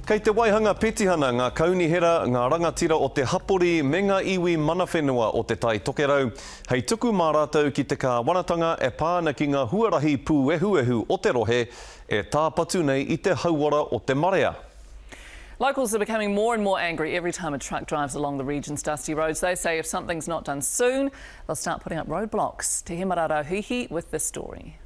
Kei te waihanga petihana ngā kaunihera, ngā rangatira o te hapori me ngā iwi mana whenua o Te Tai Tokerau hei tuku mā rātou ki te kāwanatanga e pā ana ki ngā huarahi pūehuehu o te rohe e tāpatu nei i te hauora o te marea. Locals are becoming more and more angry every time a truck drives along the region's dusty roads. They say if something's not done soon, they'll start putting up roadblocks. Te Hemara Rauhihi with this story.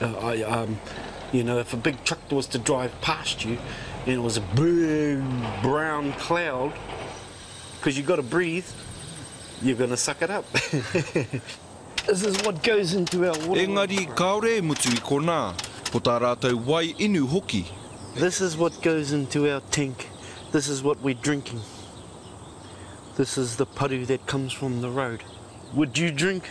I um you know if a big truck was to drive past you and it was a big brown cloud because you got to breathe you're going to suck it up This is what goes into our water Engari kāore e mutu i konā ko tā rātou wai inu hoki. This is what goes into our tank This is what we're drinking This is the paru that comes from the road Would you drink?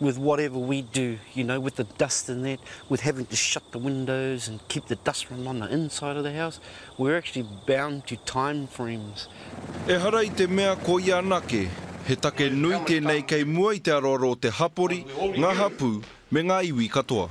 with whatever we do, you know, with the dust and that, with having to shut the windows and keep the dust from on the inside of the house, we're actually bound to time frames. Ehara i te mea ko ia anake, he take nui tēnei kei mua i te aroaro o te hapori, ngā hapū, me ngā iwi katoa.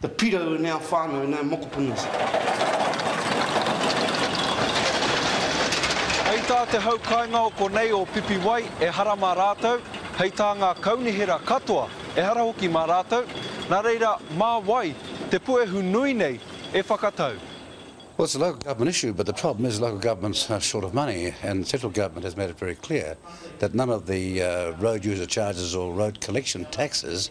Te pirau nei a whanau nei mokopuna. Hei tā te hau kaingao konei o Pipiwai ehara mā rātou, hei tā ngā kaunihera katoa ehara hoki mā rātou, nā reira mā wai te puehu nui nei e whakatau? Well it's a local government issue but the problem is local government's short of money and central government has made it very clear that none of the road user charges or road collection taxes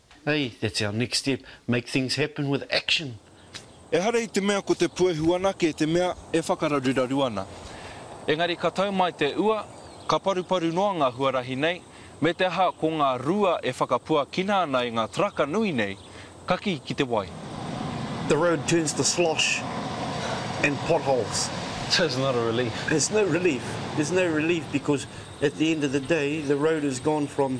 Hey, that's our next step, make things happen with action! Ehara i te mea ko te puehu anake te mea e whakararuraru ana. Engari ka tau mai te ua, ka paruparu noa ngā huarahi nei, me te aha ko ngā rua e whakapuakina ana e ngā taraka nui nei, ka kī ki te wai. The road turns to slosh and potholes. So it's not a relief? It's no relief, there's no relief because at the end of the day the road has gone from